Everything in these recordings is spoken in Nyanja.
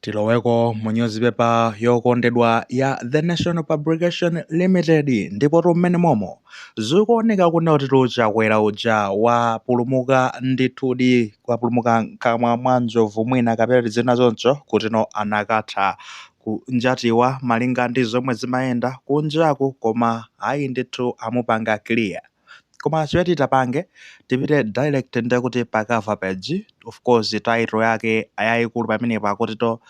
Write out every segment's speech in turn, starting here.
tiloweko mu nyuzipepa yokondedwa ya the national publication limited ndipo tu mmenemomo zikuoneka kunena kutitu Chakwera uja wapulumuka ndithudi wapulumuka mkamwa mwa njovu mwina kapena tizinena choncho kuti no anakatha kunjatidwa malinga ndi zomwe zimayenda kunjaku koma ayi ndithu amupanga clear koma chimene titapange tipite direct nde kuti pa cover page of course title yake yaikulu pamenepo akutitu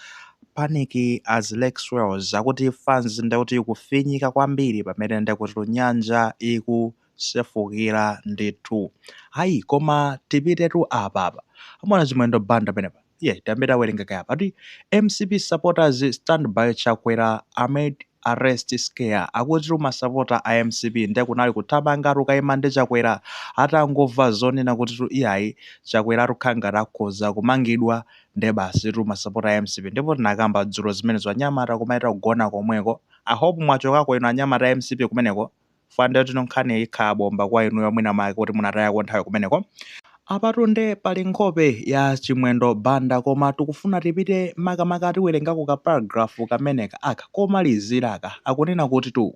panic as lake swells akuti fans nde kuti kufinyika kwambiri pamene nde kuti nyanja ikusefukira ndithu ayi koma tipitetu apa apa pamene chimwendo banda pamenepa Tiye tiyambe tawerengako kaye apa akuti mcp supporters stand by Chakwera amid arrest scare. Akutitu masapota a mcp nde kunali kuthamangatu kukaima ndi Chakwera atangomva zonena kuti iyayi Chakweratu ukhala ngati akhoza kumangidwa nde basitu masapota a mcp ndipo tinakamba dzulo zimenezo anyamata kumaita kugona komweko. I hope mwachokako inu anyamata a mcp kumeneko. chifukwa nde kutino nkhaniyi ikhala bomba kwa inuyo mwina mwake kuti munatayako nthawi kumeneko. Apatu nde pali nkhope ya Chimwendo Banda koma tikufuna tipite makamaka tiwerengako ka paragraph kameneka aka komaliziraka akunena kutitu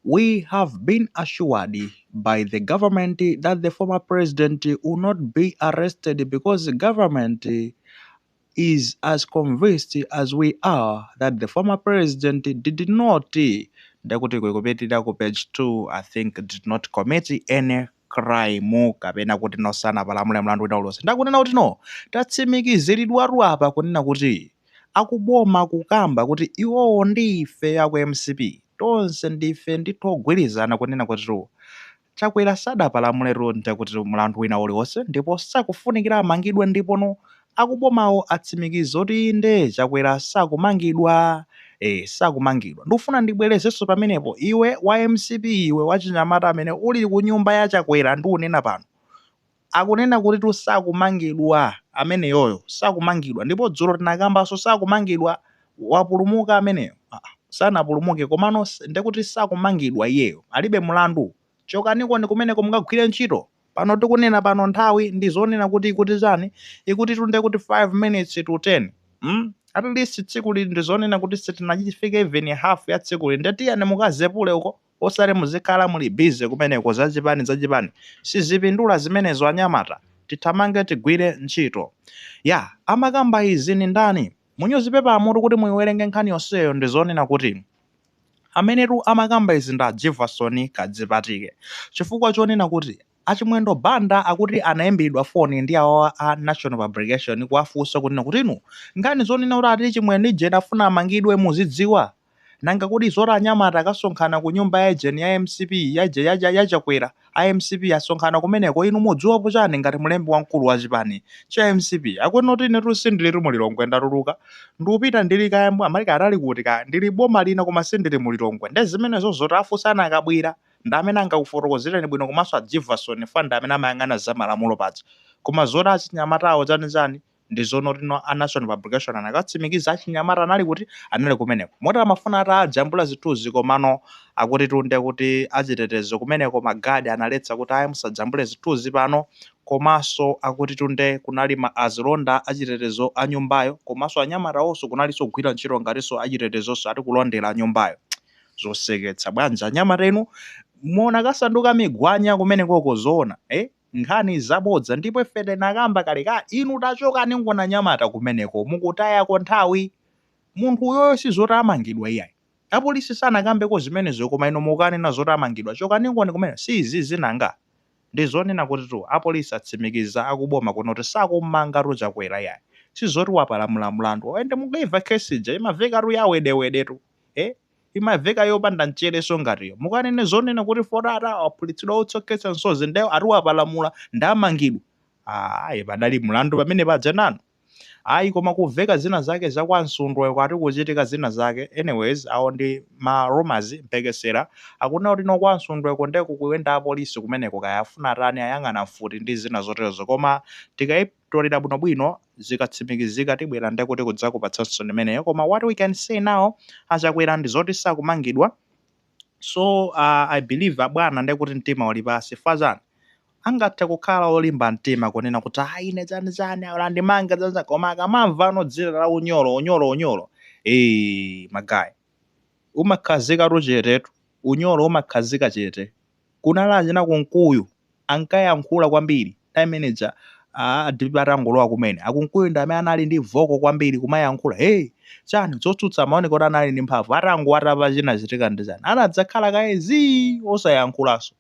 We have been assured by the government that the former president will not be arrested because government is as convinced as we are that the former president did not ndekuti ikupitira ku page 2 i think did not commit any crime kapena kuti no sanapalamule mlandu wina uliwonse nde akunena kuti no tatsimikiziridwatu apa kunena kuti akuboma akukamba kuti iwowo ndi ife aku mcp tonse ndife ndithu ogwirizana kunena kutitu Chakwera sadapalamuletu ndekuti mlandu wina uliwonse ndipo sakufunikira amangidwe ndipono akubomawo atsimikiza zoti inde Chakwera sakumangidwa ee sakumangidwa ndikufuna ndibwerezenso pamenepo iwe wa mcp iwe wachinyamata amene uli kunyumba ya Chakwera ndikunena pano Akunena kutitu sakumangidwa ameneyoyo sakumangidwa ndipo dzulo tinakambanso sakumangidwa wapulumuka ameneyo aa sanapulumuke komano ndekuti sakumangidwa iyeyo alibe mlandu chokanikoni kumeneko mukagwire ntchito pano tikunena pano nthawi ndizonena kuti ikuti chani ikutitu ndekuti 5 minutes to 10 mm atleast tsikuli ndizonena kuti sitinachifike even half ya tsikuli nde tiyeni mukazepule uko osati muzikhala muli busy kumeneko zachipani zachipani sizipindula zimenezo anyamata tithamange tigwire ntchito ya. Amakamba izi ndi ndani munyuzipepamutu kuti muyiwerenge nkhani yonseyo ndi zonena kuti amenetu amakamba izi ndi a Jivason Kadzipatike chifukwa chonena kuti a Chimwendo Banda akuti anayimbilidwa foni ndi awawa a National Publication kuwafunsa kunena kuti inu nkhani zonena kuti ati Chimwendo ija afuna amangidwe muzidziwa? Nanga kodi zoti anyamata akasonkhana ku nyumba ya ejeni ya mcp ya Chakwera a mcp asonkhana kumeneko inu mudziwapo chani ngati mlembi wamkulu wa chipani Cha mcp akunena kuti inetu sindilitu mu Lilongwe ndatuluka ndupita ndili kaya mwina ali atali kuti kaya ndili boma lina koma sindili mu Lilongwe nde zimenezo zoti afunseni a Kabwila ndi amene angakufotokozeleni bwino komanso a Jivason fwa ndi amene amayang'ana za malamulo paja koma zoti achinyamatawo chani chani ndi zoona kuti a national publication anakatsimikiza achinyamata anali kuti anali kumeneko moti amafuna ati ajambula zithunzi komano akuti tunde kuti achitetezo kumeneko magadi analetsa kuti ayi musajambule zithunzi pano komanso akuti tunde kunali azilonda achitetezo a nyumbayo komanso anyamatawonso kunalinso kugwira ntchito ngatinso achitetezonso ati kulondera nyumbayo zoseketsa bwanji anyamata inu muona kasanduka migwanya kumenekoko zoona eh? nkhani zabodza ndipo ife tinakamba kale ka inu tachokaninkoni anyamata kumeneko mukutayako nthawi munthu uyoyo sizoti amangidwa iyayi apolisi sanakambeko zimenezo koma inu mukukanena zoti amangidwa chokaninkoni kumeneko si izizi nanga ndizonena kutitu apolisi atsimikiza akuboma kunoti sakumangatu chakwera iyayi sizoti wapalamula mlandu and mukaimva case ija imavekatu ya wedewedetu eh imaveka yopanda mcherenso ngatiyo mukanene zonena kuti fwa ati awaphulitsira utsi okhetsa msozi nde ati wapalamula nde amangidwa ayi padali mlandu pamene paja nanu ayi koma kuveka zina zake za kwa msundwe uko ati kuchitika zina zake anyways awo ndi ma rumours mphekesera akunena kuti kwa msundwe uko nde kukuyenda apolisi kumeneko kaya afuna atani ayang'ana mfuti ndi zina zoterozo koma tikayi tolira bwino bwino zikatsimikizika tibwera ndekuti kudzakupatsaninso imeneyo koma what we can say now achakwera ndizoti sakumangidwa so uh, i believe abwana ndekuti mtima uli pansi fwa chani angathe kukhala olimba mtima kunena kuti ayi ine chani chani alandimanga chani chani koma akamamva ano dzina la unyolo unyolo unyolo ee magayi umakhazika tu chetetu unyolo umakhazika chete Kunali achina Kunkuyu ankayankhula kwambiri time ija atangolowa kumene. A Kunkuyu ndi amene anali ndi voko kwambiri kumayankhula hey chani zotsutsa amaoneka kuti anali ndi mphamvu atangowatapa chinachitika ndi chani anadzakhala kaye zii osayankhulanso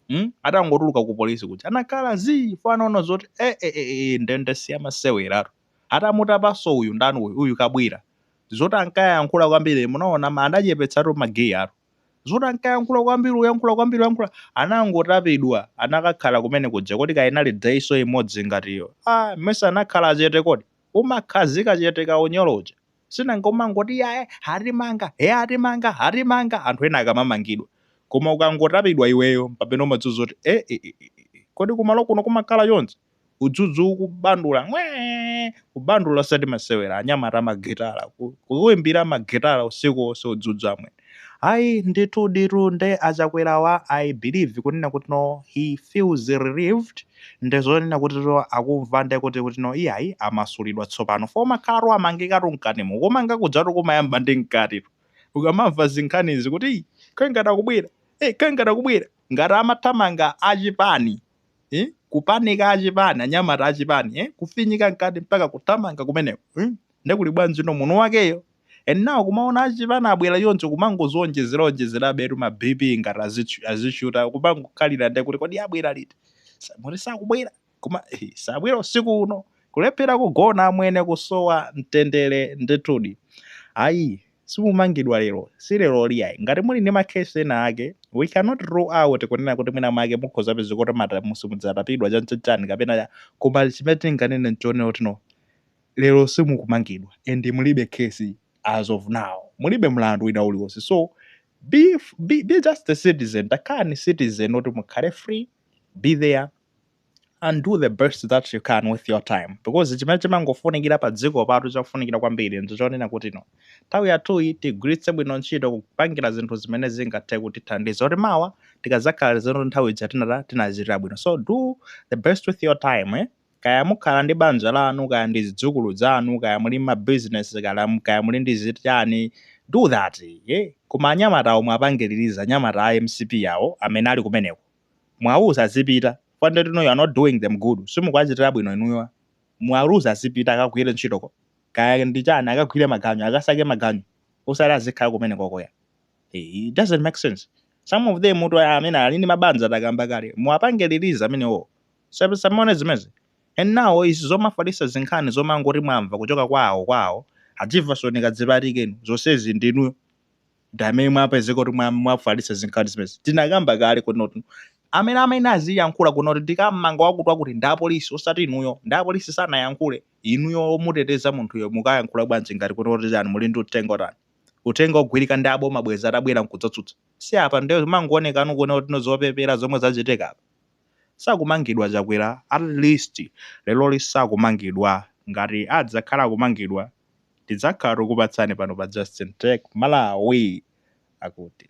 mm? atangotuluka ku polisi kuja anakhala zii chifukwa anaona zoti e, e, e, e, ndende siyamaseweratu atamutapanso uyu ndani uyu uyu kabwira zoti ankayankhula kwambiri munaona ma- anachepetsatu magiya atu zoti ankayankhula kwambiri kuyankhula kwambiri kuyankhula anangotapidwa anakakhala kumene kuja kodi Kainja Ali Diso imodzi ngatiyo ah mmesa anakhala chete kodi umakhazika chete ka unyolo uja si nanga umangoti yaye atimanga he atimanga atimanga anthu ena akamamangidwa koma ukangotapidwa iweyo pamene umadziwa zoti e, e, e, e, e. kodi kumalo kuno kumakhala chonchi udzudzu ukubandula amwene kubandula osati masewera anyamata amagitala ku- kuimbira magitala usiku wonse udzudzu amwene ayi ndithu ditu nde achakwerawa i believe kunena kutino he feels relieved nde zonena kutino akumva nde kuti kutino iyayi amasulidwa tsopano fo amakhalatu amangikatu mkatimo kumanga kudzatu kumayamba ndi mkatitu ukamamva zinkhanizi kuti "Ih, kangati akubwera eh, kangati akubwera ngati amathamanga achipani eh? kupanika achipani anyamata achipani eh? kufinyika mkati mpaka kuthamanga kumeneko eh? nde kuli bwanji no munthu wakeyo and now kumaona achipani abwera choncho kumangozionjezera onjezera abetu ma bp ngati azichu- azishuta kumangokhalira nde kuti kodi abwera liti Sa- muti sakubwera koma eh, sabwera usiku uno kulephera kugona amwene kusowa mtendere ndithudi ayi simumangidwa lero, si leroli iyayi. Ngati muli ndi ma case ena ake, we cannot rule out kunena kuti mwina mwake mukhoza kupezeka kuti mata, simudzatapidwa chanichani kapena cha, koma chimene tinganene nchonena kutino, lero simukumangidwa and mulibe case as of now, mulibe mlandu wina uliwonse so be, be, be just a citizen, takhalani citizen oti mukhale free, be there. and do the best that you can with your time because chimene chimangofunikira padzikopatu chofunikira kwambiri ndi chonena kutino nthawi yathuyi tigwiritse bwino ntchito kupangira zinthu zimene zingathe kutithandiza kuti mawa tikadzakhala tiziti nthawi ija tinata tinazitira bwino so do the best with your time eh? kaya mukhala ndi banja lanu kaya ndi zidzukulu zanu kaya muli mabizinesi kaya muli ndi zitani do that eh? koma anyamata omwe apangiririza anyamata a mcp awo amene ali kumeneko Muwauze azipita fukwa nde you know you are not doing them good simukuwachitira bwino inuyo muwauze azipita akagwire ntchitoko kaya ndi chani akagwire maganyu akasake maganyu osati azikhala kumenekoko ya it doesn't make sense some of them muthu amene ali ndi mabanja takamba kale muwapangiririze amenewo Sab- samaone zimezi and now izi zomafalisa zinkhani zomangoti mwamva kuchoka kwa awo kwa awo adzivasonika dzipatikeni zonsezi ndinuyo ndi amene mwapezeka kuti mwa- mwafalitsa zinkhani zimenezi tinakamba kale kunoti amene amene aziyankhula kunoti ndikammanga wakuti wakuti ndi apolisi osati inuyo ndi apolisi sanayankhule inuyo omuteteza munthuyo mukayankhula bwanji ngati kunoti chani muli ndi uthenga otani uthenga ogwirika ndi aboma bwezi atabwera nkudzatsutsa si apa ndiye mangoonekanu kuona kutino zopepera zomwe zachitika apa sakumangidwa chakwera at least leroli sakumangidwa ngati adzakhala akumangidwa Tidzakhala tikupatsani pano pa Justin Tech Malawi akuti.